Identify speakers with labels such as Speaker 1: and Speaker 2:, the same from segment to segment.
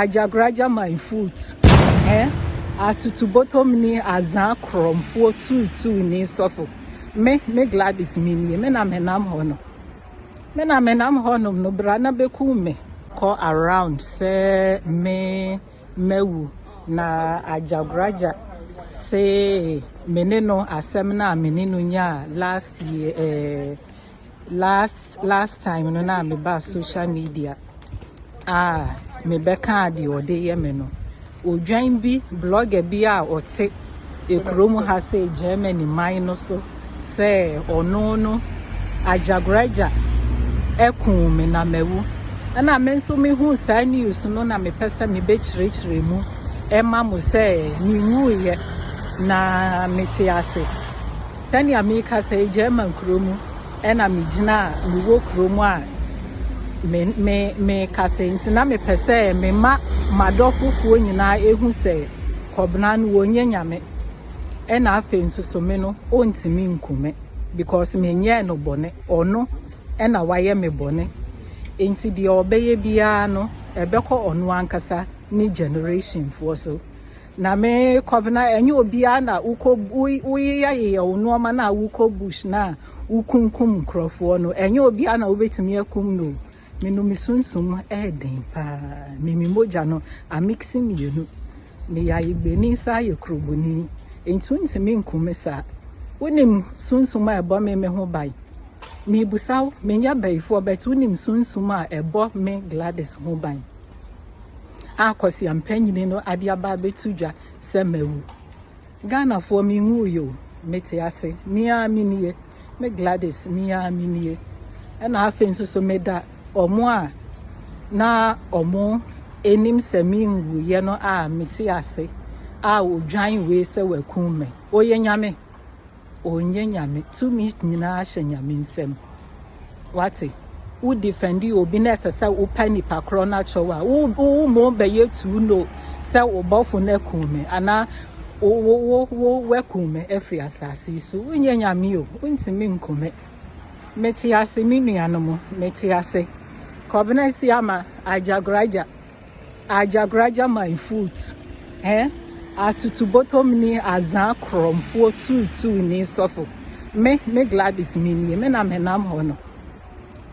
Speaker 1: Agyagoraja my foot eh Atutubotomni azaa korɔmfoɔ tuutuuni sɔfo Me me Gladys me nie me na me nam hɔ no Me na me nam hɔ nom no bra na bɛkum me Kɔ around sɛ me mawu Na Agyagoraja se me ne no asɛm no a me ne no nyaa last year eh last last time no na me ba social media ah me bɛka ade ɔde yɛ me no odwan bi blogger bi a ɔte ekurom ha sɛ Germany man no so sɛ ɔno no agyagoraja ɛkuu me na mawu ɛna me nso mehu saa news no na mepɛ sɛ mebɛkyerɛkyerɛ mu ɛma mo sɛ menwuiɛ na mete ase Sɛnea merekasa yi, German kuro mu na megyina a mewɔ kuro mu a me me mekasa nti na mepɛ sɛ mema m'adɔfofoɔ nyinaa ehu sɛ Kɔbena no wɔnyɛ nyame ɛna afei nso so me no ɔntumi nku me because menyɛɛ no bɔne ɔno ɛna wayɛ me bɔne nti deɛ ɔbɛyɛ biara no ɛbɛkɔ ɔno ankasa ne generationfoɔ so Na me Kɔbena, ɛnyɛ obiara na wokɔ woyeyɛyeyɛ wo nnoɔma no a wokɔ bush no a wokunkum nkurɔfoɔ no. Ɛnyɛ obiara na wobɛtumi akum no. Me no me sunsum ɛyɛ den paa. Me me mogya no amiksi mmienu. Me yɛ ayegbeni saa yɛ kuroboni. Nti wontumi nkum me saa. Wonim sunsum a ɛbɔ me me ho ban. Mebusa wo, menyɛ bayifoɔ bɛte wonim sunsum a ɛbɔ me Gladys ho ban. a kwaseampanyini no ade aba abɛto dwa sɛ mawu. Ghanafoɔ menwuiɛ o, mete ase, me ara me nie, me Gladys me ara me nie. Ɛna afei nso so meda wɔn a na wɔn anim sɛ menwuiɛ no a mete ase a ɔdwan wei sɛ wakum me. Ɔyɛ Nyame. Ɔnyɛ Nyame. Tumi nyinaa hyɛ Nyame nsam. Wate? Wo defend obi na ɛsɛ sɛ wopa nipa korɔ no akyɛw a, wo wo mo bɛyɛ too no sɛ wo bɔfo no akum me anaa wo wo wo wo wakum me afiri asase yi so. Wonyɛ Nyame o, wontumi nku me. Mete ase me nuanom, mete ase. Kɔbena si ama agyagoraagya. Agyagoraja my foot eh Atutubotomni Azã korɔmfoɔ tuutuuni sɔfo Me, me Gladys me nie Me na menam hɔ no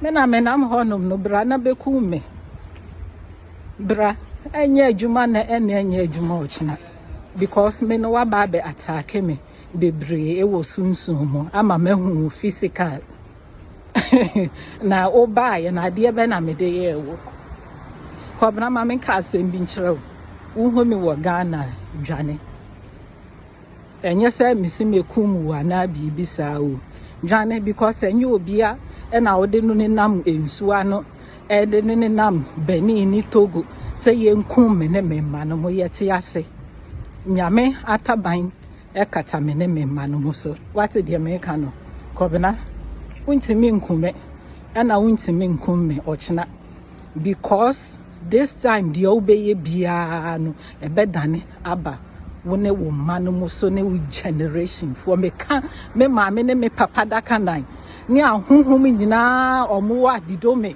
Speaker 1: Me na menam hɔ nom no Bra na bɛkum me Bra Ɛnyɛ adwuma na ɛne ɛnyɛ adwuma ɔkyena Because me no waba abɛ ataake me Bebree ɛwɔ sunsum mu Ama mahu wo physical na wobaeɛ na adeɛ bɛ na mede yɛɛ wo kɔbena ma menka asɛm bi nkyerɛ wo wohu me wɔ ghana dwane ɛnyɛ sɛ mese mekum wo anaa biribi saa o dwane because ɛnyɛ obia ɛna wode no ne nam nsuo ano ɛde ne ne nam bani ne togo sɛ yɛnkum me ne me mma no mo yɛte ase nyame ataban Ɛkata me ne me mma no ho so. Woate deɛ mereka no? Kɔbena, wontumi nku me ɛna wontumi nkum me ɔkyena because this time deɛ wobɛyɛ biara no ɛbɛdane aba wo ne wo mma no mu so ne wo generation foɔ. Meka me maame ne me papa daka nan ne ahohom nyinaa ɔmo wɔ adidome.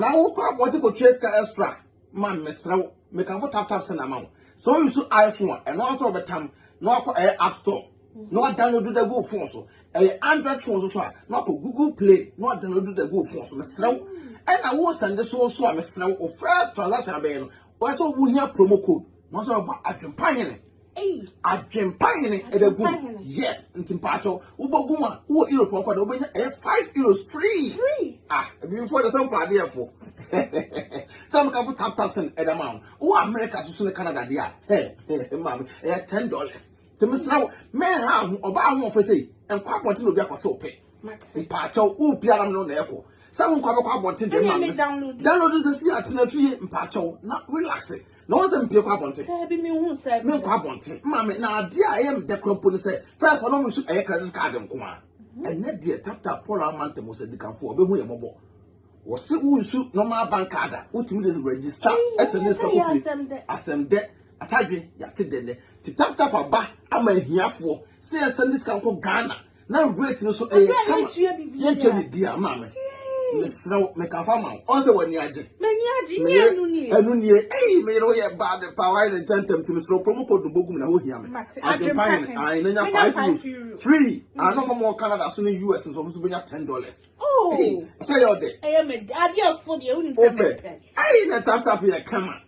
Speaker 2: na
Speaker 3: wokɔ abɔnten
Speaker 2: kɔtua sika extra ma mesrɛ wo mekamfo tap tap send ama wo sɛ woyi so iphone a ɛno nso wɔbɛtam na wakɔ ɛyɛ app store na wadownload da gu phone so ɛyɛ android phone so so a na wakɔ google play na wadownload da gu phone so mesrɛ wo ɛna wo sɛnde so so a mesrɛ wo first transaction abɛyɛ no wɔsɛ wohia promo code na wɔsɛ wɔbɔ adwempa hene Adwempa hene ɛbɛ gu yes nti mpaatɔ wobɔ gu a wowɔ europe ɔkɔ dɛ wobɛnya ɛyɛ five euros free ah ebifoɔ dɛ sɛ mpɔ adeɛfoɔ sɛ mo kafo tap tap sɛn ɛda ma wo wowɔ america soso ne canada deɛ a hɛ maame ɛyɛ ten dollars nti mesra wo mɛnha ho ɔbaa ho ɔfɛ sɛ nkɔ abɔnten na obi akɔ sɛ ɔpɛ mpaatɔ wo biara no na ɛkɔ sɛ wo nkɔ abɛkɔ abɔnten deɛ maame download nsɛ si atena fie mpaatɔ na relax na wɔn sɛ mpie kɔ abɔnten daabi mi hu sɛ mi nkɔ abɔnten mma mi na adeɛ a ɛyɛ mi dɛ kura mpo ne sɛ fɛs wɔn mu nso ɛyɛ credit card nko a mhm. ɛnɛ deɛ tata paul amanta mu sɛ dikanfo ɔbɛhu yɛ mɔbɔ wɔsi wusu normal bank card a wotumi de register ɛsɛ ne sika kofi asɛm dɛ atadwe yate dɛ nɛ ti tap tap aba ama ahiafoɔ sɛ yɛsɛ ne sika nkɔ ghana na rate no so ɛyɛ kama yɛntua biribiara ma me mesrɛ wo meka fa ma wo ɔn sɛ w'ani agye ɛno nie ei meyere wo yɛ bad pa wayɛ ne ntɛntɛm nti mesrɛ promo code no bɔgum na wohia me adwempa hene ae na nya 5 euros free ano ma mɔ canada so ne us nso ɔmo so bɛnya 10 dollars oh. sɛ yɛ ɔdɛ wopɛ ei na taptap yɛ kama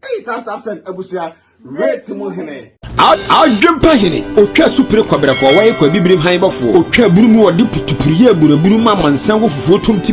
Speaker 2: Eyi tap tap send abusua rate mu hene. Adwempa
Speaker 4: hene, otwa supire kɔbrɛfoɔ, wɔyɛ kɔ abibirim han bɔfoɔ, otwa abunu mu wɔde putupuruyɛ aburabunu ma amansan wɔ fufuo tom ti.